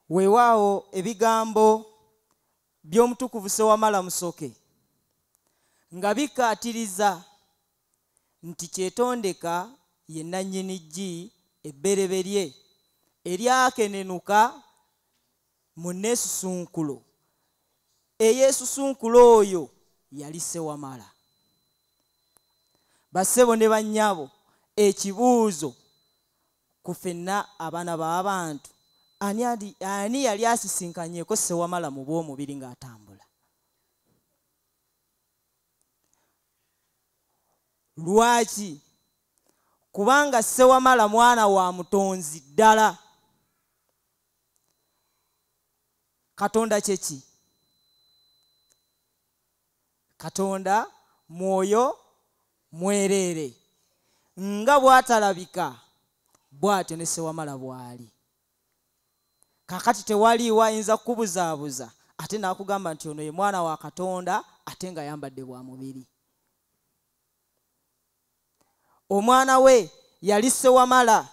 weewaawo ebigambo by'omutukuvu sewamala musoke nga bikkaatiriza nti kyetondeka ye nannyini ggi ebbereberye eryakenenuka mu neesusunkulo eyeesusunkula oyo yali sewamala bassebo ne bannyabo ekibuuzo ku fenna abaana b'abantu ani yali asisinkanyeko sewamala mu bw'omubiri ng'atambula lwaki kubanga sewamala mwana wa mutonzi ddala katonda kyeki katonda mwoyo mwereere nga bwatalabika bwatyo ne sewamala bwali kakati tewaliiwo ayinza kukubuzaabuza ate nakugamba nti ono ye mwana wa katonda ate nga yambadde bwa mubiri omwana we yali sewamala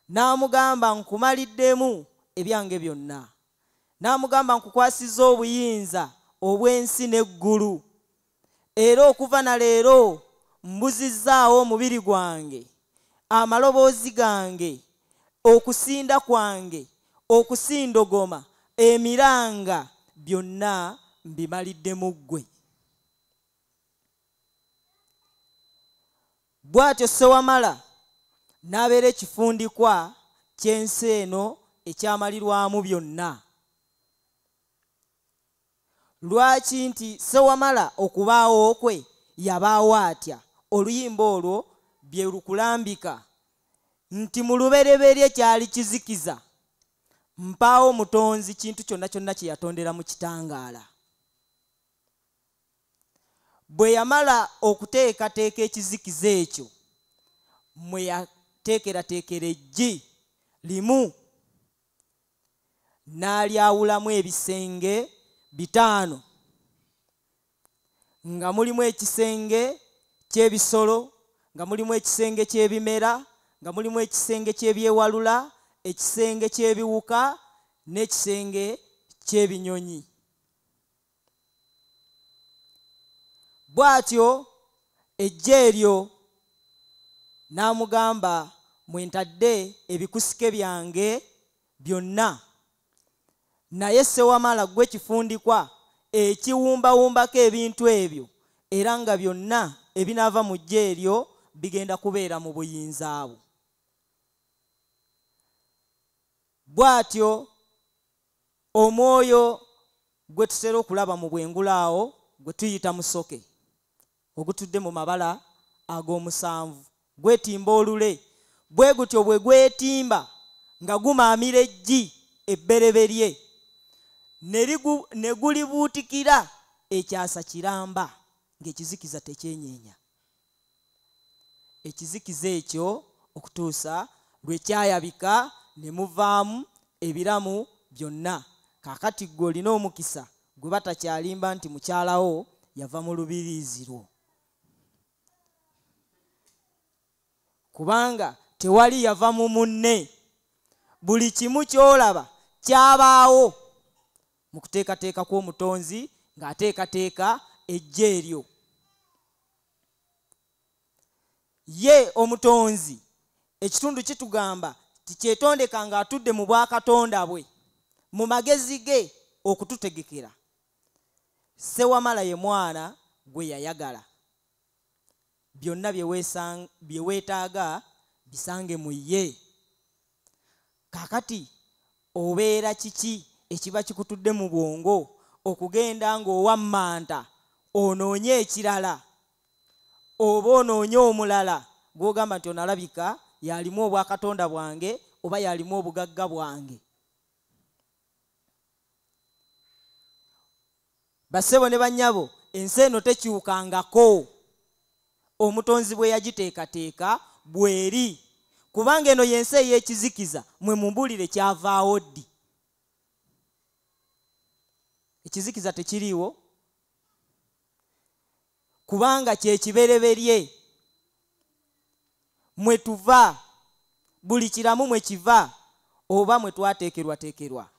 n'amugamba nkumaliddemu ebyange byonna n'amugamba nkukwasiza obuyinza obw'ensi n'eggulu era okuva na leero mbuzizzaawo omubiri gwange amaloboozi gange okusinda kwange okusindogoma emiranga byonna mbimalidde mu ggwe bw'atyo ssewamala n'abeera ekifundikwa ky'ensi eno ekyamalirwamu byonna lwaki nti ssewamala okubaawo kwe yabaawo atya oluyimba olwo bye lukulambika nti mu lubereberye kyali kizikiza mpaawo mutonzi kintu kyonna kyonna kye yatondera mu kitangaala bwe yamala okuteekateeka ekizikiza ekyo mwe yateekerateekera eggi limu n'alyawulamu ebisenge bitaano nga mulimu ekisenge ky'ebisolo nga mulimu ekisenge ky'ebimera nga mulimu ekisenge ky'ebyewalula ekisenge ky'ebiwuka n'ekisenge ky'ebinyonyi bw'atyo ejje eryo n'amugamba mwe ntadde ebikusike byange byonna naye sewamala gwe kifundikwa ekiwumbawumbako ebintu ebyo era nga byonna ebinaava mu jje eryo bigenda kubeera mu buyinza bwo bw'atyo omwoyo gwe tutera okulaba mu bwengula awo gwe tuyita musoke ogutudde mu mabala ag'omusanvu gwetimba olule bwe gutyo bwe gwetimba nga gumaamira eggi ebbereberye ne gulibuutikira ekyasa kiramba ng'ekizikiza tekyenyeenya ekizikiza ekyo okutuusa lwe kyayabika ne muvaamu ebiramu byonna kaakati ggwe olina omukisa gwe batakyalimba nti mukyalawo yava mu lubiriizi lwo kubanga tewali yava mu munne buli kimu ky'olaba kyabaawo mu kuteekateeka kw'omutonzi ng'ateekateeka ejja eryo ye omutonzi ekitundu kitugamba tikyetondeka nga atudde mu bwakatonda bwe mu magezi ge okututegekera sewamala ye mwana gwe yayagala byonna bye weetaaga bisange mu ye kakati obeera kiki ekiba kikutudde mu bwongo okugenda ng'owa manta onoonye ekirala oba onoonye omulala gw'ogamba nti onalabika yalimu obwakatonda bwange oba yalimu obugagga bwange bassebo ne bannyabo ensi eno tekyukangako omutonzi bwe yagiteekateeka bweri kubanga eno y'ensi ey'ekizikiza mwe mumbuulire kyavaawo ddi ekizikiza tekiriiwo kubanga kyekibereberye mwe tuva buli kiramu mwe kiva oba mwe twateekerwateekerwa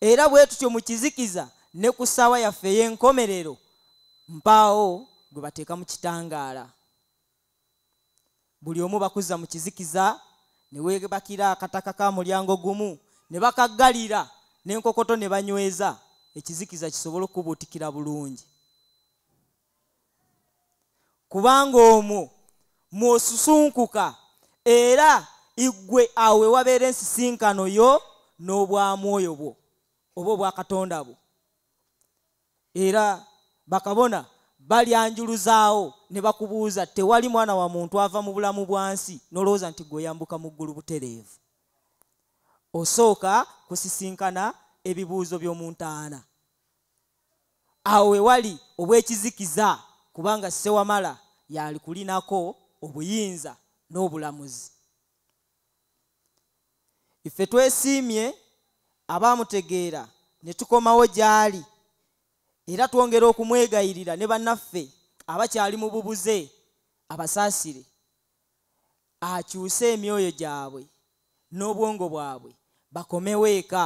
era bwe tutyo mu kizikiza ne ku ssaawa yaffe ey'enkomerero mpaawo gwe bateeka mu kitangaala buli omu bakuzza mu kizikiza ne weebakira akataka ka mulyango gumu ne bakaggalira n'enkokoto ne banyweza ekizikiza kisobole okubuutikira bulungi kubanga omwo mwosusunkuka era igwe awo ewabeera ensisinkano yo n'obwamwoyo bwo oba obwakatonda bwo era bakabona balyanjuluzaawo ne bakubuuza tewali mwana wa muntu ava mu bulamu bwa nsi n'olowooza nti gwe oyambuka mu ggulu butereevu osooka kusisinkana ebibuuzo by'omu ntaana awo we wali obw'ekizikiza kubanga ssewamala yaali kulinako obuyinza n'obulamuzi ife twesiimye abaamutegeera ne tukomawo gy'ali era twongera okumwegayirira ne bannaffe abakyali mu bubuze abasaasire akyuse emyoyo gyabwe n'obwongo bwabwe bakomewo eka